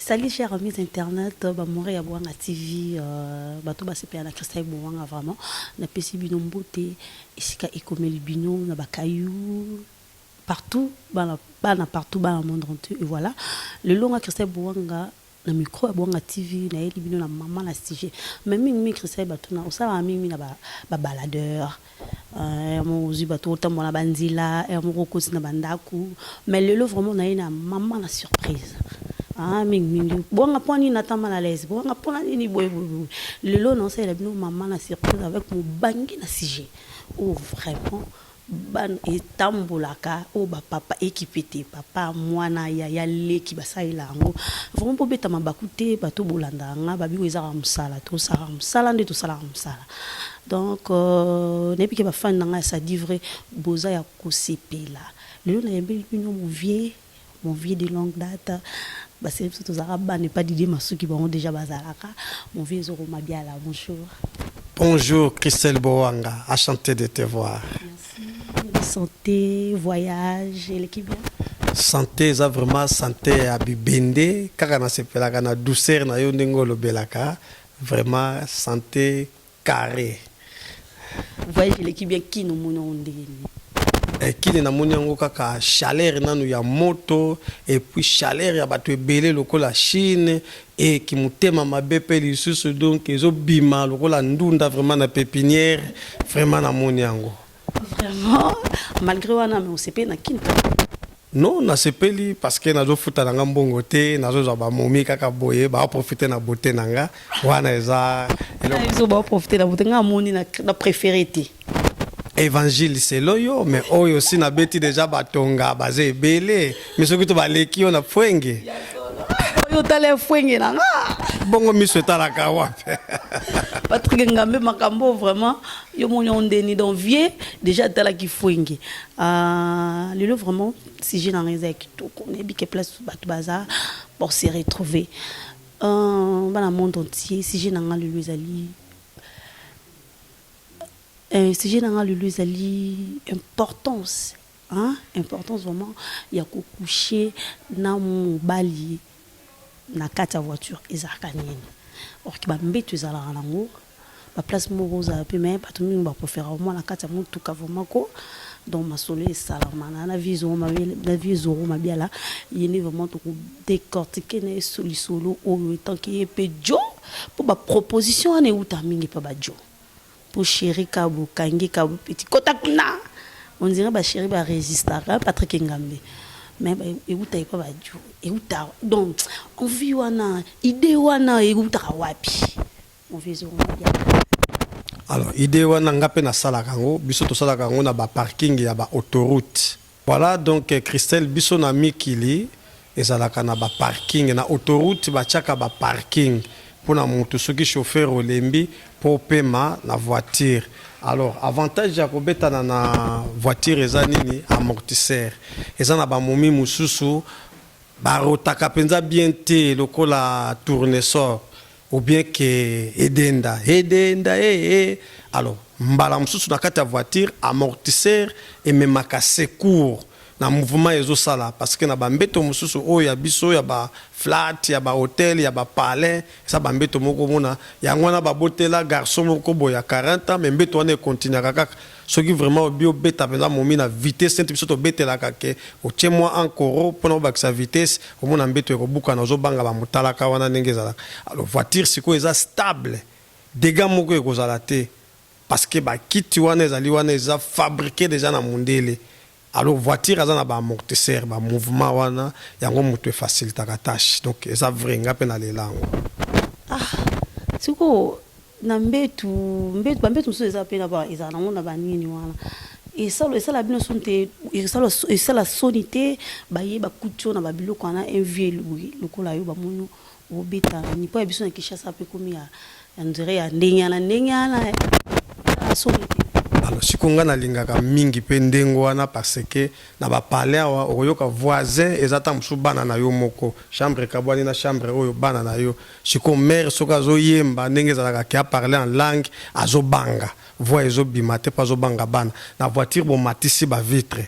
Salut chers amis internet, euh, ba mora ya Boanga TV, euh, bato ba sepela na Christa Boanga vraiment. Na pesi bino mbote, esika ekomeli bino na bakayou partout, bana bana partout bana monde entier et voilà. Le longa Christa Boanga Na micro ya Bwanga TV nayeli bino na maman na sujet mais mingi mingi Christian yeba tuna osalaka mingi mingi na ba ba baladeur heure moko ozwi bato otambola na ba nzela heure moko okoti na ba ndaku mais lelo vraiment naye na maman na surprise ah mingi mingi Bwanga mpo nini nata mal à l'aise Bwanga mpo na nini boye boye boye lelo naosalela bino maman na surprise avec mobange na sujet oyo vraiment Bana etambolaka oyo ba papa ekipe te papa muana yaya leki basalela yango vraiment bobeta mabaku te bato bolandaka nga babiko eza kaka musala tosala kaka musala nde tosalaka musala donc nayebi ke ba fan na nga ya sadivre boza ya kosepela lelo nayembeli bino movie Mon vieux de longue date basele biso tozalaka bana epa didie masuki bango deja bazalaka mon vieux ezoko mabiala bonjour bonjour christelle bowanga a chanter de te voir Merci. santé voyage eleki bien santé eza vraiment santé ya bibende kaka nasepelaka na douceur na yo ndenge olobelaka vraiment santé carre. Voyage eleki bien kin omoni yango ndenge nini. Eh, kini namoni yango kaka chaleur nanu ya moto epuis chaleur ya bato ebele lokola chine e kimotema mabe mpe lisusu donc ezobima lokola ndunda vraiment na pepiniere vraiment namoni yango Vraiment, malgré wana mais osepeli na kin non nasepeli parce que nazofuta na nga mbongo te nazozwa bamomi kaka boye baprofite na bote na nga wana eza baprofite na bote nga amoni na préféré te évangile selo yo mais oyo si nabeti deja batonga baza ebele mi soki to baleki yo na fwenge yo tala efwenge na nga bongo miso etalaka wapi patrik ngambe makambo vraiment yo moni on deni donc vieux déjà atalaki fwenge uh, lelo vraiment sujet na ngai eza ya kitoko nayebi ke place bato baza pour se retrouver uh, bana monde entier sujet na ngai lelo ezali uh, sujet na ngai lelo ezali importance Hein importance vraiment ya ko coucher na mobali na kati ya voiture ezalaka nini? Or que ba mbetu ezalaka nango ba place moko ozala pe mais batu mingi ba preferaka vraiment na kati ya mutuka vraiment ko donc masolo esalama na na vieux Zoro Mabiala na vieux Zoro Mabiala ye nde vraiment toko decortiquer na ye so lisolo oyo etant que ye pe Djo po ba proposition wana ewuta mingi epa ba Djo. Po cheri kabo kangi kabo petit kota kuna on dirait ba cheri ba resistaka hein Patrick engambe mais ba ewuta epa ba djo ewuta donc envie wana idee wana ewutaka wapi mon vieux zongela diamba. Alors idee wana nga pe na salaka yango biso to salaka yango na ba parking ya ba autoroute. Voilà donc Christelle biso na mikili ezalaka na ba parking na autoroute ba tiaka ba parking pona mutu soki chauffeur olembi po opema na voiture alors avantage ya kobetana na voiture eza nini amortisseur eza na ba momi mususu barotaka penza bien te lokola tournesol ou bien que edenda edenda eh eh alors mbala mosusu na kati ya voiture amortisseur ememaka secours na mouvement ezosala parce que na bambeto mosusu oyo ya biso ya ba flat ya ba hotel ya ba palais eza bambeto moko omona yango wana babotela garçon moko boye ya 40 ans mais mbeto wana ekontinuaka kaka Soki vraiment obi obeta penza momi na vitesse neti biso tobetelaka que otie mua un coro pona obakisa vitesse omona mbetu ekobukana ozo banga ba mutalaka wana ndenge ezalaka alors voiture sikoyo eza stable degat moko ekozala te parce que ba kiti wana ezali wana eza fabrique deja na mundele Alors voiture aza na ba amortisseur ba mouvement wana yango mutu e facilitaka tache donc eza vrai nga pe na lela yango. Ah sikoyo na mbetu mbetu ba mbetu mosusu eza pe na ba ezala nango na ba nini wana esalo esala bino soni te esalo esala soni te baye bakuti yo na ba biloko wana un vieux lokola yo bamoni yo Obeta nipo ya biso na Kinshasa pe komi ya ya nzere ya ndenge wana ndenge wana eh. Somo te. Alors siko nga na lingaka mingi pe ndenge wana parce que na ba palais awa okoyoka voisin eza tango mosusu bana na yo moko chambre ekabwani na chambre oyo bana na yo siko mère soki azo yemba ndenge ezalaka ke a parler en langue azo banga voix ezo bima te po azo banga bana na voiture bo matisi ba vitres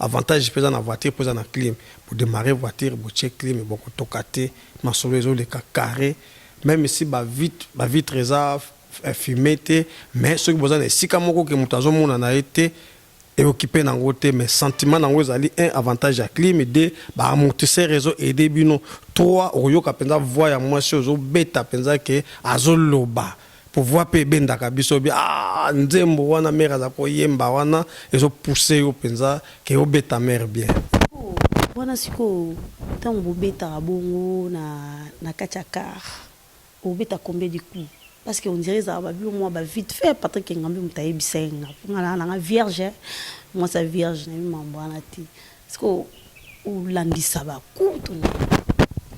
Avantage pe eza na voiture po eza na clim bo demarrer voiture botie clim boko toka te masolo ezo leka carre meme si ba vitre eza fume te mais soki boza na esika moko ke mutu azo mona na ye te e occupe na ngo te mais sentiment na ngo ezali un avantage ya clim deux ba amortisseur ezo aide bino trois okoyoka penza voix ya mwasi ozo beta penza ke azo loba Pouvoir pe ebendaka biso bi ah nzembo wana mère aza ko yemba wana ezo pousser yo penza ke obeta mère bien. Wana sikoyo tango bobetaka bongo na na kati ya car obeta combien de coup? Parce que on dirait ezalaka ba bio mua ba vite fait Patrick Engambe mutu ayebisa ye nga po nga naza nanga vierge mwasi ya vierge nayebi mambo wana te. Sikoyo olandisa ba coups to nini?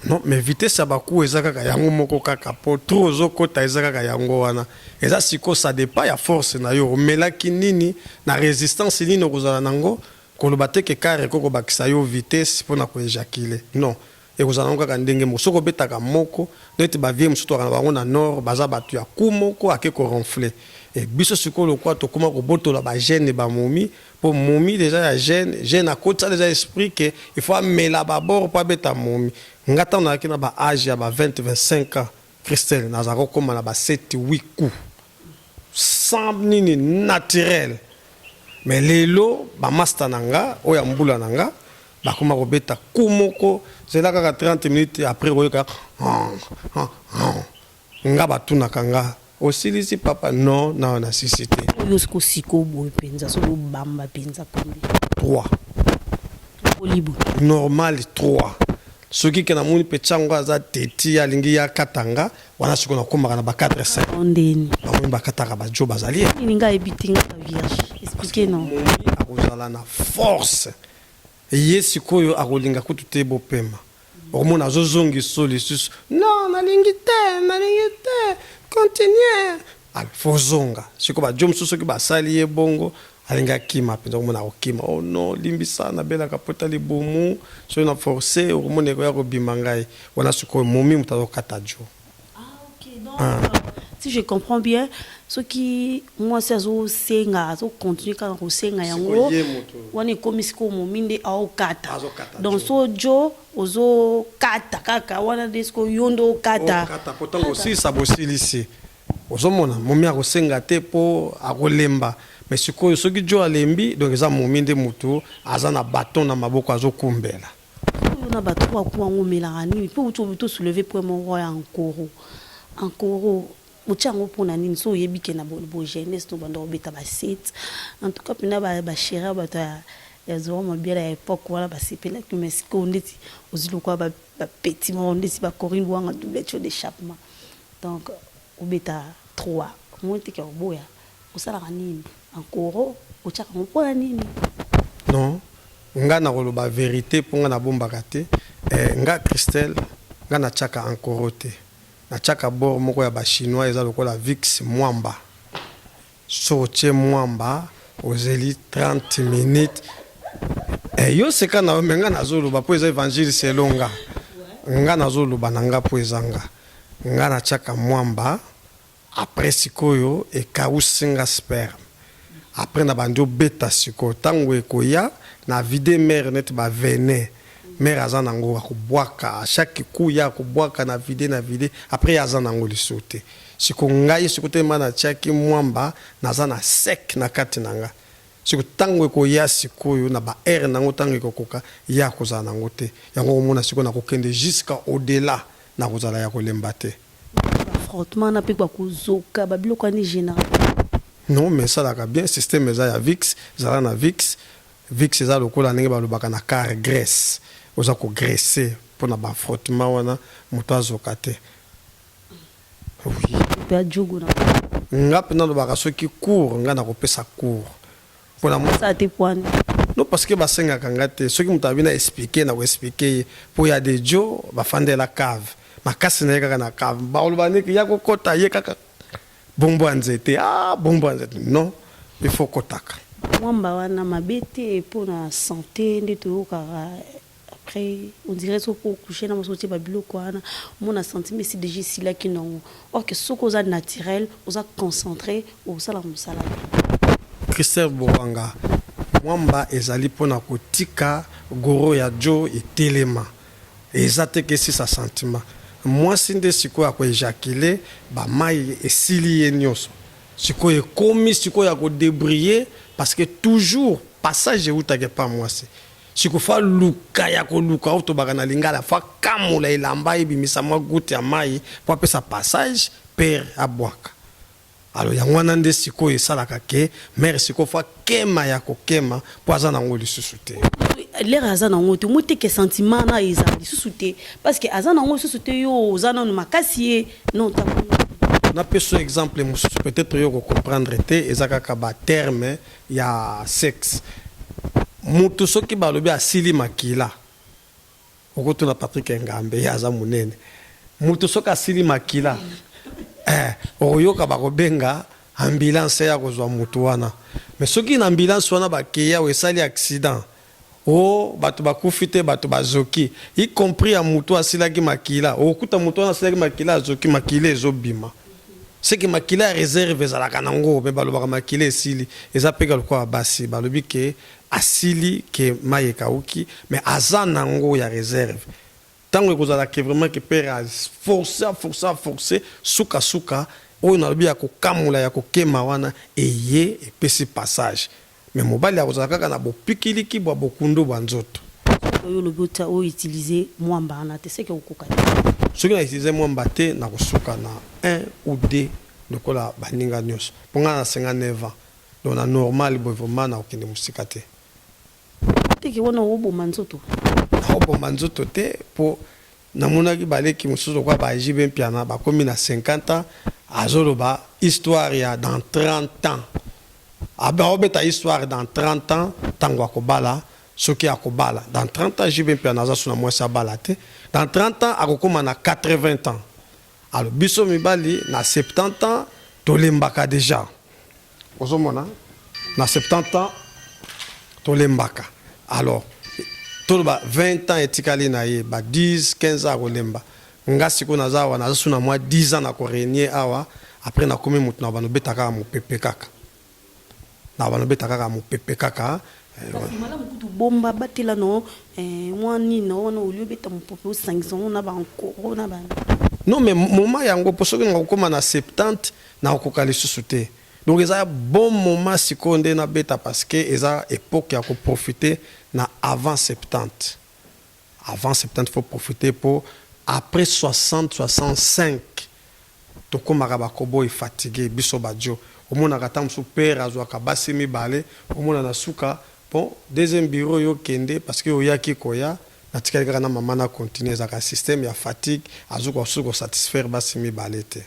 Non mais vitesse ya ba coups eza kaka yango moko kaka po trop ozokota eza kaka yango wana. Eza sikoyo ça depend ya force na yo omelaki nini na resistance nini okozala na yango koloba te que car ekoki kobakisa yo vitesse pona ko ejaculer non. Ekozala nango kaka ndenge moko soki obetaka moko neti ba vieux mosusu tolaka na bango na nord baza batu ya coup moko ake ko ronfle et biso sikoyo lokola tokoma kobotola ba jeune ba momi po momi deja ya jeune jeune akotisa deja esprit que il faut amela ba bord po abeta momi nga tango nazalaki na ba age ya ba 20 25 ans Christelle naza ko koma na ba sept huit coup sans nini naturel mais lelo ba masta na nga oyo ya mbula na nga bakoma kobeta coup moko zela kaka 30 minutes après oyoka nga batunaka nga osilisi papa no na na sisi te oyo sikosiko boye mpenza soki obamba mpenza kombi 3 olibo normal 3 soki ke namoni petit yango aza teti alingi ya katanga wana siko nakomaka na ba 4 5 ondeni bamoni bakataka bajo bazali nini ngai ebitingaka vierge explique non akozala na force ye sikoyo akolinga kutu te bopema okomona azozongi so lisusu non nalingi te nalingi te continue alfozonga siko bajo mosusu soki basali ye bongo Alingi akima penza okomona akokima oh non limbisa na belaka pota libumu soki na force okomona ekoya kobima ngai wana sikoyo momi moto azokata jo ah, okay, donc, ah. Euh, si je comprends bien soki mwasi azosenga azokontinue kaka kosenga yango wana ekomi sikoyo momi nde aokata donc so jo ozokata kaka wana nde sikoyo yo nde okata ntango osilisa bosilisi Ozomona momi akosenga te po akolemba mais sikoyo soki djo alembi donc eza momi nde mutu aza na baton na maboko azo kumbela. Sikoyo yo na ba trois coups yango omelaka nini po outi olobi to soulever point moko ya ankoro ankoro otie yango pona nini soki oyebi ke na bo jeunesse to bandaka obeta ba set en tout cas pena ba cherie ya batu ya zorro mabiala ya epoque wana ba sepelaki yo mais sikoyo ndeti ozwi lokola ba petit moko ndeti ba corine luwanga double co d'echappement Donc obeta trois omoni te ke oboya osalaka nini en koro otiaka yango pona nini. Non nga nakoloba verite po nga nabombaka te eh nga Christelle nga natiaka en koro te natiaka bord moko ya ba chinois eza lokola viks mwamba. Soki otie mwamba ozeli 30 minutes eh, yo seka na yo me nga nazoloba mpo eza evangile selo nga nga nazoloba na nga mpo eza nga nga natiaka mwamba apres sikoyo ekausi nga sperme apres na bandi obeta sikoyo ntango ekoya na vide mere neti bavene Mère aza na ngo ako bwaka a chaque coup ya ko bwaka na vide na vide après ye aza na ngo lisusu te siko ngai siko te ma na tiaki mwamba naza na sec na kati na nga siko tango ekoya sikoyo na ba heure na ngo tango ekokoka ye akozala na ngo te yango okomona siko na kokende jusqu'à au delà na kozala ya kolemba te. frottement na pe ba kozoka ba biloko wana e genera. Non mais esalaka bien système eza ya vix zala na vix Vicks eza lokola ndenge balobaka na car graisse oza ko graisser pona ba frottement wana mutu azoka te oui. Mutu ya djogo na poto. Nga pe nalobaka soki cours nga nako pesa cours pona mutu. Sa te puana. Non parce que basengaka nga te soki mutu alobi na explique nako explique ye po ya de djo bafandela cave makasi naye kaka na cave bakoloba nde ke ya kokota ye kaka Bombo ya nzete ah bombo ya nzete non il faut kotaka. Mwamba wana mabe te po na sante nde toyokaka après on dirait soki po coucher na mwasi otie ba biloko wana omona sentiment esi dejà esilaki nongo or que soki oza naturel oza concentre okosala mosala na yo. Christelle Bowanga, Mwamba ezali po na kotika goro ya Djo etelema. Eza te ke sisa sentiment muasi nde sikoyo ako ejacule ba mayi esili ye nioso sikoyo ekomi sikoyo ya ko debriller parce que toujours passage ewutaka epa muasi sikoyo faut aluka ya koluka oyo tobaka na lingala faut akamola elamba ebimisa mua goute ya mayi po apesa passage pere abuaka Alors yango wana nde sikoyo esalaka ke mère sikoyo fa kema ya kokema po aza na ngo lisusu te. Lere aza na ngo te omoni te ke sentiment na ezala lisusu te parce que aza na ngo lisusu te yo oza nanu makasi ye non ta na peso exemple mosusu peut-être yo ko comprendre te eza kaka ba terme ya sexe mutu soki balobi asili makila Okotuna Patrick Engambe ye aza munene mutu soki asili makila eh okoyoka bakobenga ambulance ya kozua mutu wana mais soki na ambulance wana bakeyi awa esali accident oh batu bakufi te batu bazoki y compris ya mutu asilaki makila okokuta mutu wana asilaki makila azoki makila ezobima ce que makila ya reserve ezalaka nango mais balobaka makila esili eza peka lokola basi balobi ke asili que mayi ekawuki mais aza nango ya reserve tangu ekozala que vraiment que pere a force a force a force suka suka oyo nalobi ya kokamula ya kokema wana eye epesi passage mais mobali akozala kaka na bopikiliki bua bokundu bua nzoto. Oyo olobi otia o utiliser muamba wana te seke okoka te. Soki na utiliser muamba te nakosuka na un ou deux lokola baninga nionso po nga na 59 ans Donc na normal boye vraiment nako kende musika te. Teke wana oko boma nzoto. Nako boma nzoto te po na monaki ba leki mususu lokola ba JB Mpiana ba komi na 50 ans azo loba histoire ya dans 30 ans. Azo beta histoire dans 30 ans tangu ako bala soki ako bala. Dans 30 ans JB Mpiana aza sous na mwasi abala te. Dans 30 ans ako koma na 80 ans. Alors biso mibali na 70 ans tolembaka deja ozomona na 70 ans tolembaka alors toloba 20 ans etikali na ye ba 10 15 ans akolemba nga sikoyo naza awa naza su na mwa 10 ans na koregne awa après nakomi moto na banobeta kaka mopepe kaka Na bana beta kaka mupepe kaka eh. Malamu kutu bomba batela no eh mwa nini na wana olio beta mupope osangisa ngo na ba nkoro na ba. Non mais moment yango po soki nakokoma na 70 nakokoka lisusu te donc eza bon moment sikoyo nde nabeta parce que eza epoque ya ko profiter na avant 70 Avant 70 faut profiter po après 60 65 tokomaka ba kobo et fatigue biso ba djo omonaka tango mosusu père azuaka basi mibale omona na suka bon deuxième bureau yo kende parce que oyaki koya natikali kaka na maman na continuer ezalaka système ya fatigue azokoka susu ko satisfaire basi mibale te.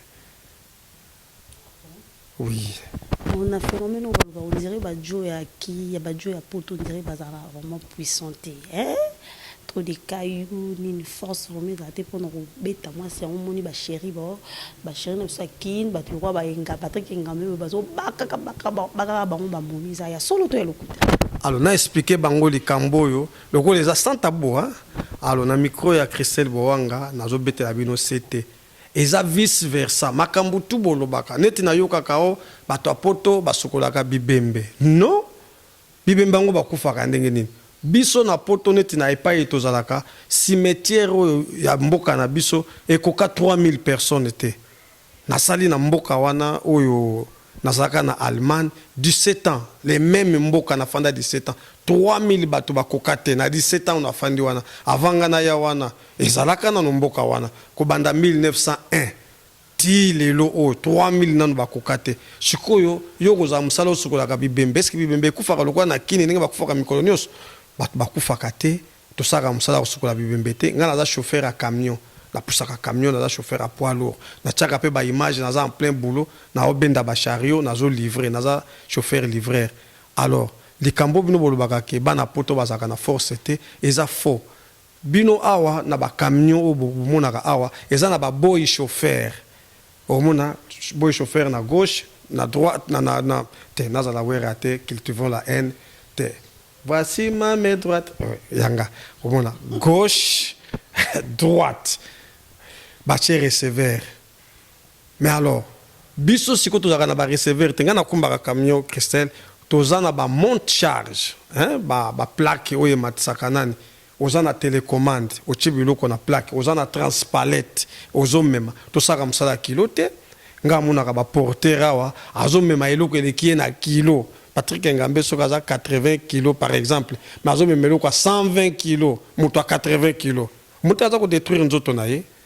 oui. Pona phenomène oyo baloba on dirait ba djo ya ki ya ba djo ya poto on dirait bazalaka vraiment puissant te hein trop de cailloux nini force vraiment ezala te pona kobeta muasi yango omoni ba cherie ba ba cherie na biso ya kin batu lokola ba enga Patrick engambe boye bazo bakaka baka bakaka bango ba momi eza ya solo to ya lokuta Alors na expliquer bango likambo oyo lokola eza sans tabou hein alors na micro ya Christelle Bowanga nazo betela bino sete Eza vice versa makambu tout bolobaka neti na yokaka oh batu ya poto ba sukolaka bibembe non bibembe yango ba kufaka ndenge nini biso na poto neti na epayi tozalaka cimetière oyo ya mboka na biso ekoka 3000 personnes te na sali na mboka wana oyo na zalaka na Allemagne 17 ans le meme mboka na fanda 17 ans 3000 batu ba koka te na 17 ans oyo na fandi wana avant nga na ya wana Ezalaka nanu mboka wana kobanda 1901 tii lelo oyo 3000 nanu bakoka te. Sikoyo yo okozala mosala osukolaka bibembe eske bibembe ekufaka lokola na kin ndenge bakufaka mikolo nionso? Batu bakufaka te tosalaka mosala ya kosukola bibembe te. Nga naza chauffeur ya camion na pusaka camion naza chauffeur ya poids lourd na tiaka pe ba image naza en plein boulot nazo benda ba chariot nazo livre naza chauffeur livreur alors likambo oyo bino bolobaka ke bana poto bazalaka na force te eza faux Bino awa na ba camion oyo bo monaka awa eza na ba boyi chauffeur omona boyi chauffeur na gauche na droite na na na te nazala werra te cultivons la haine te voici ma main droite yanga omona gauche droite batie receveur Mais alors biso sikoyo tozalaka na ba receveur te nga na kumbaka camion Christelle toza na ba monte charge hein ba ba plaque oyo ematisaka nani oza na telecommande otie biloko na plaque oza na transpalette ozo mema tosalaka musala ya kilo te nga amonaka ba porteur awa azo mema eloko eleki ye na kilo Patrick Engambe soki aza 80 kilo par exemple mais azo mema eloko ya 120 kilo mutu ya 80 kilo mutu aza ko detruire nzoto na ye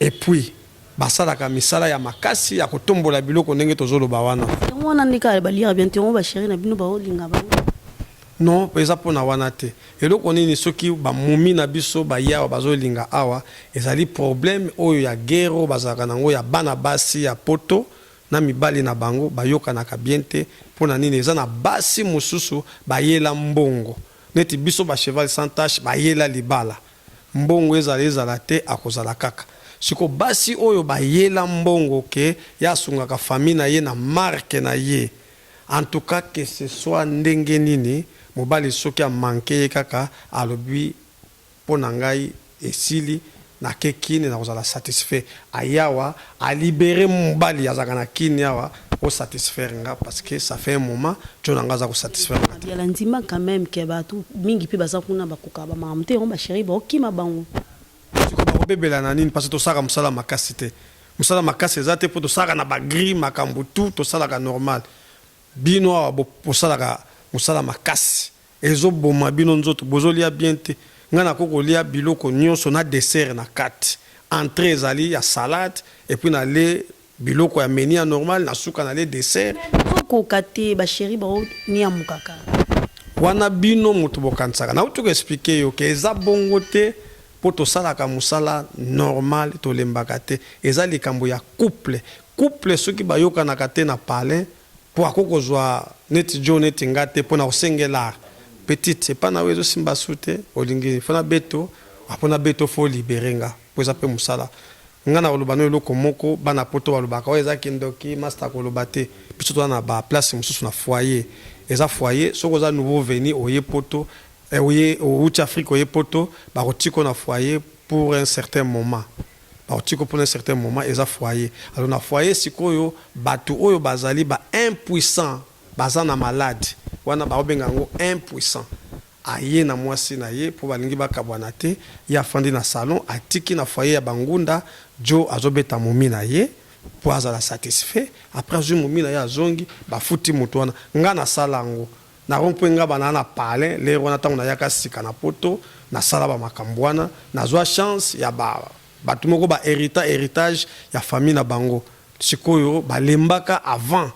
Et puis basalaka misala ya makasi ya kotombola biloko ndenge tozo loba wana. Yango wana nde kaka ba liaka bien te yango ba cherie na bino bao linga bango te? Non eza pona wana te eloko nini soki ba mummy na biso ba ye awa bazo linga awa ezali probleme oyo ya guerre oyo bazalaka na ngo ya bana basi ya poto na mibali na bango ba yokanaka bien te pona nini eza na basi mususu ba yela mbongo neti biso ba cheval sans tache ba yela libala Mbongo ezala ezala te akozala kaka. Sikoyo basi oyo ba yela mbongo que ye asungaka famille na ye na marque na ye en tout cas que ce soit ndenge nini mobali soki a manque ye kaka alobi pona ngai esili na ke kin nakozala satisfait aye awa a libere mobali azalaka na kin awa Oko satisfaire nga parce que ça fait un moment djo na nga aza ko satisfaire nga te. Gabriela ndima quand meme que batu mingi pe baza kuna bakokaka ba makambo te yango ba cherie bako kima bango. Sikoyo bako bebela na nini parce que tosalaka musala makasi te musala makasi eza te po tosalaka na ba grille makambo tout tosalaka normal bino awa bosalaka musala makasi ezo boma bino nzoto bozo lia bien te nga nako kolia biloko nioso na dessert na kati entree ezali ya salade epuis na le Biloko ya menu ya normal na suka na le dessert. Mais nazo koka te ba cherie bao niamukaka. Wana bino mutu bokanisaka. Nawuti ko expliquer yo que eza bongo te po tosalaka musala normal tolembaka te. Eza likambo ya couple. Couple soki bayokanaka te na palin. Po akoki kozua neti djo neti nga te po nako sengela petite epa na yo ezo simba su te olingi il faut na beto ah po na beto faut o libere nga po eza pe musala nga nako loba na yo eloko moko bana poto ba lobaka oyo eza kindoki masta ako loba te biso toza na ba place mususu na foyer eza foyer soki oza nouveau veni oye poto eh oye owuti Afrique oye poto bako tika yo na foyer pour un certain moment. Ba otiko pona un certain moment eza foyer alors na foyer sikoyo batu oyo bazali ba impuissants baza na malade wana bao benga yango impuissant aye na mwasi na ye po balingi bakabwana te ye afandi na salon atiki na foyer ya ba ngunda djo azo beta momi na ye po azala satisfait après azui momi na ye azongi bafuti mutu wana nga nasala yango Na rond point Ngaba naa na palin l'heure wana tango na yaka sika na poto na sala ba makambo wana na zwa chance ya ba batu moko ba herita heritage ya famille na bango sikoyo ba lembaka avant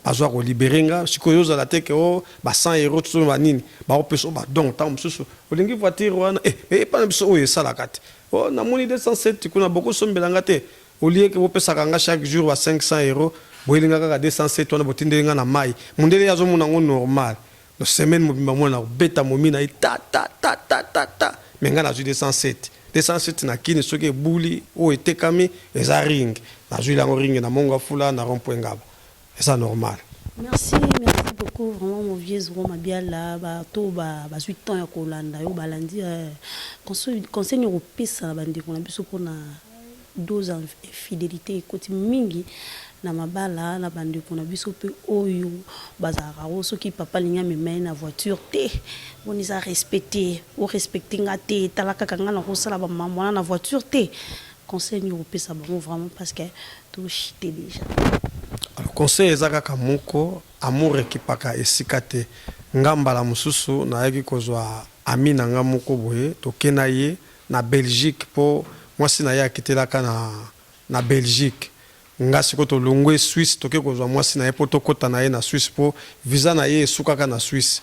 ba zwa ko libere nga sikoyo ozo zala te ke oh ba 100 euros to ba nini ba ko pesa yo ba dons tango mosusu olingi voiture wana eh mais epa na biso oyo esalaka te oh na moni 207 kuna boko sombela nga te Au lieu que bopesaka nga chaque jour ba 500 euros, boyeli nga kaka 207 wana botindeli nga na mayi. Mundele ye azomona yango normal. Donc semaine mobimba mwana nakobeta momi na ye ta ta ta ta ta ta mais nga nazui 207. 207 na kin soki ebuli ou etekami eza ring. Nazueli yango ring na Mongafula na rond point Ngaba. Eza normal. Merci merci beaucoup vraiment mon vieux Zoro Mabiala ba to ba bazui temps ya kolanda yo balandi conseil conseil nini okopesa na bandeko na biso mpona dose ya infidelite ekoti mingi na mabala na bandeko na biso mpe oyo bazalaka ngo soki papa alingi amema ye na voiture te boni eza respect te orespecte nga te tala kaka nga nakosala bamamwana na voiture te Conseil nini okopesa bango vraiment parce que to chute dejà. Alors conseil eza kaka moko amour ekipaka esika te nga mbala mususu nayaki kozua ami na nga moko boye toke na ye na Belgique po mwasi na ye akitelaka na na Belgique nga siko tolongwe Suisse toke kozua mwasi na ye po tokota na ye na Suisse po visa na ye esukaka na Suisse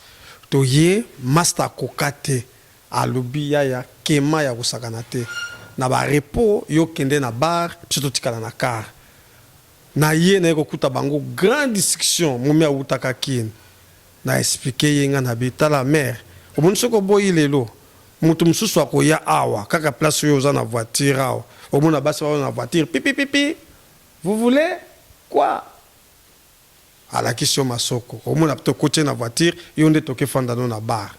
toye masta akoka te Alobi yaya kema ya kosakana te na ba repos yo kende na bar biso totikala na car naye naye kokuta bango grand discussion momi awutaka kin na explique ye nga nabi tala mère omoni soki oboyi lelo mutu mususu akoya awa kaka place oyo oza na voiture awa okomona basi baoya na voiture pipipipi vous voulez quoi alakisi yo masoko omona pte okoti ye na voiture yo nde toke fanda no na bar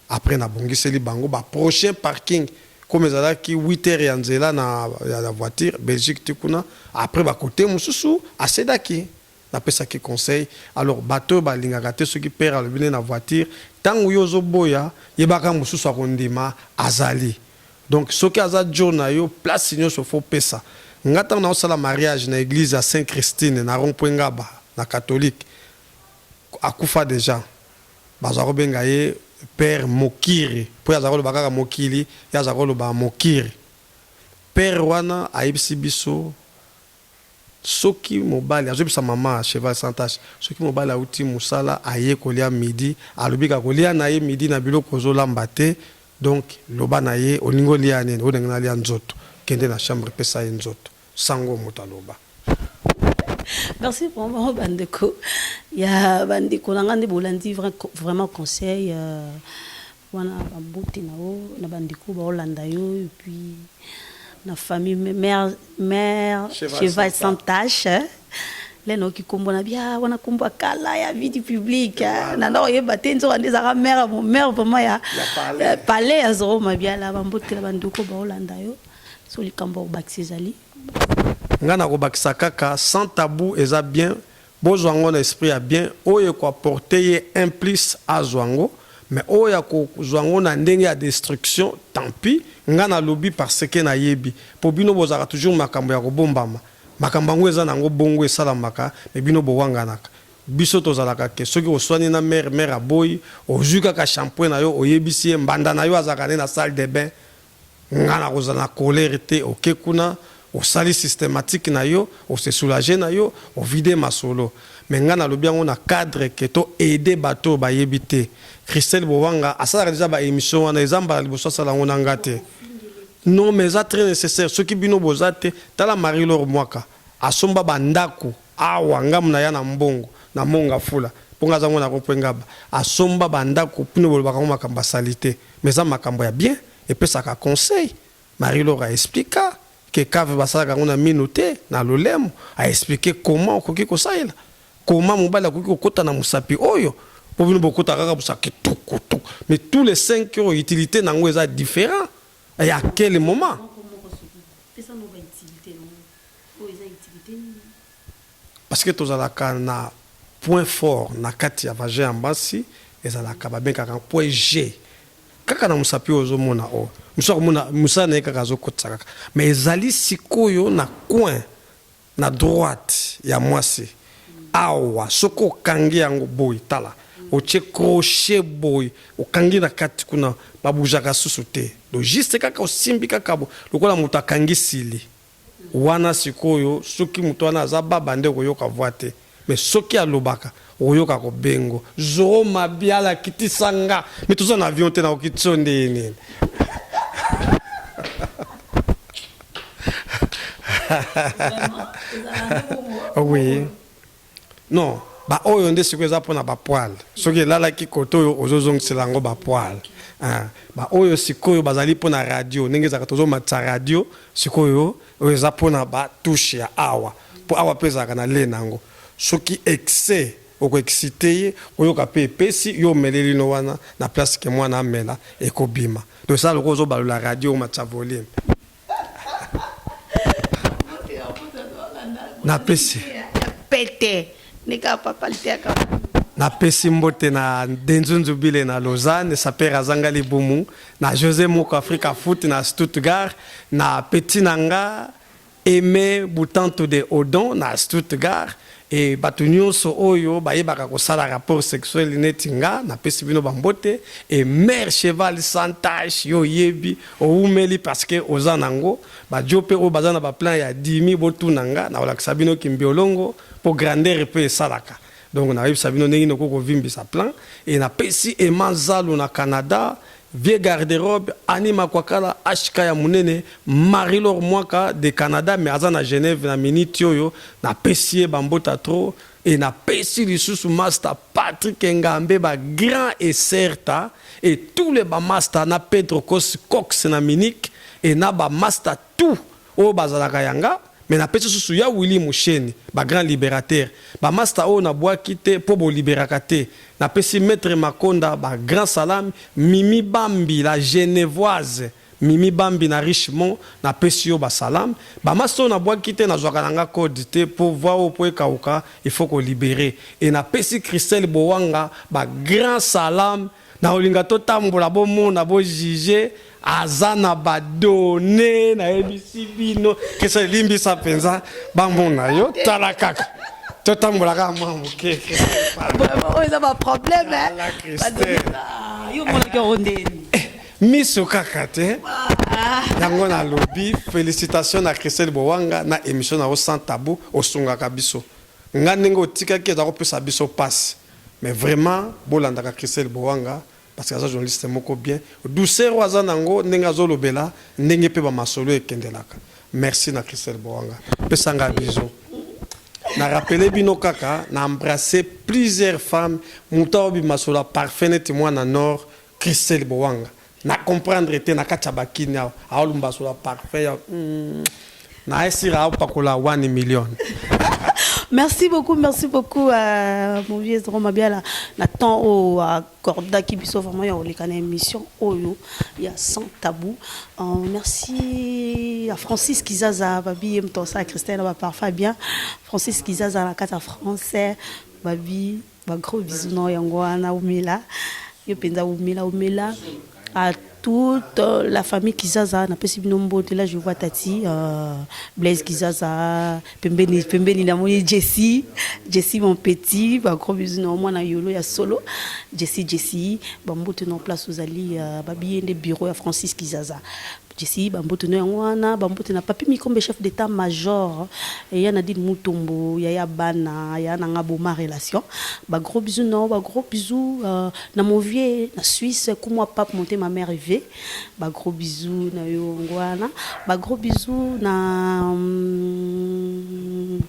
après na bongiseli bango ba prochain parking comme ezalaki 8 heures ya nzela na ya voiture Belgique ti kuna après ba cote mosusu asedaki na pesaki conseil alors bato oyo balingaka te soki père alobi nde na voiture tango yo ozoboya yebaka mosusu akondima azali Donc soki aza djo nayo place nioso faut opesa nga tango nazo sala mariage na eglise ya saint Christine na rond point ngaba na catholique akufa dejà bazalako benga ye père mokiri po ye azalaka oloba kaka mokili ye azalaka oloba mokiri père wana ayebisi biso soki mobali azo yebisa maman cheval sans tache soki mobali awuti musala aye kolia midi alobi kaka kolia naye midi na biloko ozo lamba te Donc loba na ye olingi olia nini oyo na ngai na lia nzoto kende na chambre pesa ye nzoto sango moto aloba. Merci vraiment ba ndeko ya ba ndeko na ngai nde bolandi vraiment conseil wana ba mbote na yo na ba ndeko ba olanda yo et puis na famille mère mère cheval sans tache lena oki kombo na bia wana kombo kala ya vie du public eh, na ndako yeba te nzoka nde ezaka mère mon mère vraiment ya palais ya zoro mabia la bambotela banduko baolanda yo so likambo ya kobakisa ezali ngai nakobakisa kaka sans tabou eza bien bozwa yango na esprit ya bien oyo ekoaporte ye un plus azwa yango mais oyo ya kozwa yango na ndenge ya destruction tant pis ngai nalobi parce que nayebi mpo bino bozalaka toujours makambo ya kobombama Makambo yango eza nango bongo esalamaka mais bino bowanganaka biso tozalaka que soki oswani na mère mère aboyi ozui kaka shampoing na yo oyebisi ye mbanda na yo azalaka nde na salle de bain nga nakozala na colere te oke kuna osali systematique na yo o se soulager na yo o vider masolo mais nga nalobi yango na cadre que to aider batu oyo bayebi te Christelle Bowanga asalaka dejà ba emission wana eza mbala liboso asala yango na nga te. Non mais eza très necessaire soki bino boza te tala Marie Laure Mwaka asomba ba ndaku awa ngamu naya na mbongo na mont ngafula po nga aza ngo na rond point ngaba asomba ba ndaku bino bolobaka ngo makambo ya salite mais eza makambo ya bien epesaka conseil Marie Laure a expliqua que cave basalaka ngo na minu te na lolemo a explique comment okoki kosalela comment mobali akoki kokota na musapi oyo po bino bokota kaka busa kitukutuku mais tous les cinq oyo utilite nango eza different. Et à quel moment? Parce que tozalaka na point fort na kati ya vagin ya basi ezalaka babengaka point G kaka na mosapi oyo ozomona oyo mosusu akomona mosala na ye kaka azokotisa kaka mais ezali sikoyo na coin Na droite ya mwasi awa soki okangi yango boye tala otie crochet boye okangi na kati kuna ba bougaka susu te donc juste kaka osimbi kaka boye lokola mutu akangi sili wana sikoyo soki mutu wana aza baba nde okoyoka voix te. Mais soki alobaka okoyoka ko bengo zoo mabiala kitisa nga mais toza na avion te nakoki tso nde ye nini oui non ba oyo nde sikoyo eza pona ba poil soki elalaki kote oyo ozozongisela yango ba poil ba oyo sikoyo bazali pona radio ndenge ezalaka tozomatisa radio sikoyo Oyo eza pona ba touche ya awa po awa pe ezalaka na lait nango soki excès oko excite ye oyoka pe epesi yo omeleli no wana na place que mwana amela eko bima donc esala lokola ozo balola radio omatisa volume na pesi pete nika papa liteka na pesi mbote na Denzunzubile na Lausanne sapeur azanga libumu na Jose Moko Africa Foot na Stuttgart, na petit na nga Aimé Butantu de Odon na Stuttgart et bato nyonso oyo bayebaka kosala rapport sexuel neti nga napesi bino bambote et mère cheval sans tache yo oyebi owumeli parce que oza nango bajo mpe oyo baza na baplan ya dimi botuna nga nakolakisa bino kimbiolongo mpo grandeur mpe esalaka Donc na yebisa bino ndenge noko ko vimbisa plan et na pesi Emma Zalu na Canada vieux garde-robe Annie Makwakala HK ya munene Marie-Laure Mwaka de Canada mais aza na Genève na minute oyo na pesi ye ba mbota trop et na pesi lisusu masta Patrick Engambe ba grand et certa et tous les ba masta na Pedro Kos Cox na Munich et na ba masta tout oyo bazalaka ya nga mais na pesi susu ya Willy Musheni ba grand liberateur ba masta oyo na buaki te po bo liberaka te na pesi maitre Makonda ba grand salam Mimi Bambi la Genevoise Mimi Bambi na Richemond na pesi yo ba salam ba masta oyo na buaki te na zwaka na nga code te po voix oyo po ekawuka il faut ko libere et na pesi Christelle Bowanga ba grand salam Nakolinga totambola bomona bo juge aza na ba donne nayebisi bino kesa elimbisa mpenza bamona yo tala kaka totambola kaka mwa moke oyo eza baproblème yo omonaki yango ndeni eh, miso kaka te ah. yango nalobi félicitation na christelle bowanga na émission na yo sans tabou osungaka biso Nga ndenge otikaki eza ko pesa biso pasi mais vraiment bo landaka Christelle Boanga parce que aza journaliste moko bien douceur oyo aza nango ndenge azo lobela ndenge pe ba masolo ekendelaka merci na Christelle Boanga pesa nga bisous na rappeler bino kaka na embrasser plusieurs femmes mutu azo bima solo ya parfum neti mwana nord Christelle Bowanga na comprendre te na kati ya ba kin awa awa lumbaso la parfum ya mm, na esira apakola 1 million Merci beaucoup, merci beaucoup à mon vieux Zoro Mabiala. Nathan au à Corda qui biso vraiment ya oleka na émission oyo ya sans tabou. Euh, merci à Francis Kizaza babi em tonsa Christelle ba parfa bien. Francis Kizaza na kata français babi Ba gros bisous na yango wana umela yo mpenza umela umela à toute euh, la famille Kizaza napesi bino mbote là je vois tati euh, Blaise Kizaza pembeni pembeni namoni Jessie Jessie mon petit ba gros bisous na mwana yolo ya solo Jessie Jessie ba mbote na place ozali euh, babiye nde bureau ya Francis Kizaza Jesi ba mbote no yango wana ba mbote na papi mikombe chef d'état major et ya Nadine Mutombo ya ya bana ya nanga boma relation ba gros bisous non ba gros bisous euh, na mon vieux na Suisse kumwa pape monte ma mère Yves ba gros bisous na yo ngwana ba gros bisous na hum,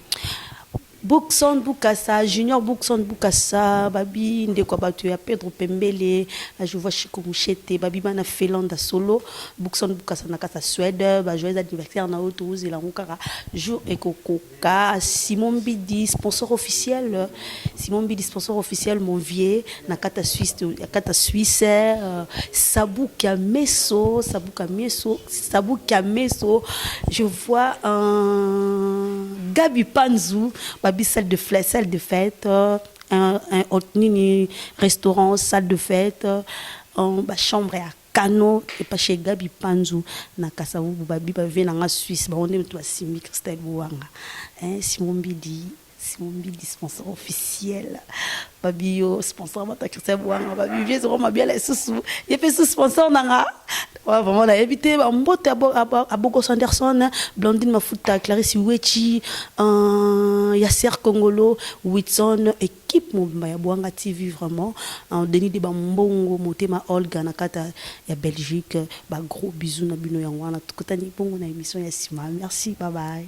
Bookson Bukasa, Junior Bookson Bukasa, babi ndeko ya bato ya Pedro Pembele, na Jouvua Chico Mushete, babi bana Felanda Solo, Bookson Bukasa na kasa Suède, ba joyeux anniversaire na yo tozela yango kaka jour ekokoka, Simon Mbidi sponsor officiel, Simon Mbidi sponsor officiel mon vieux, nakata suisse akata suisse euh, sabuka meso sabuka meso sabuka meso je vois un gabi panzu babi salle de fête salle de fête euh, un, un, un nini restaurant salle de fête euh, un, ba chambre ya kano epa chez gabi panzu na kasavubu babi bavie na nga suisse bango nde moto basimbi christelle bowanga eh, simon mbidi Simon Bidi sponsor officiel babi yo sponsor bata Christian Bwanga babi vieux Zoro Mabiala lisusu ye mpe su sponsor nanga Ouais, vraiment, on a évité. En botte à, Bo- à, Bo- à Bogos Anderson, hein, Blandine Mafuta, Clarisse Uechi, euh, Yasser Kongolo, Whitson, équipe Mobimba ya Boanga TV, vraiment. Hein, Denis de Bambongo, Motema Olga, Nakata, ya Belgique. Bah, gros bisous, na bino, ya wana. Tokutani bongo na émission ya Sima. Merci, bye bye.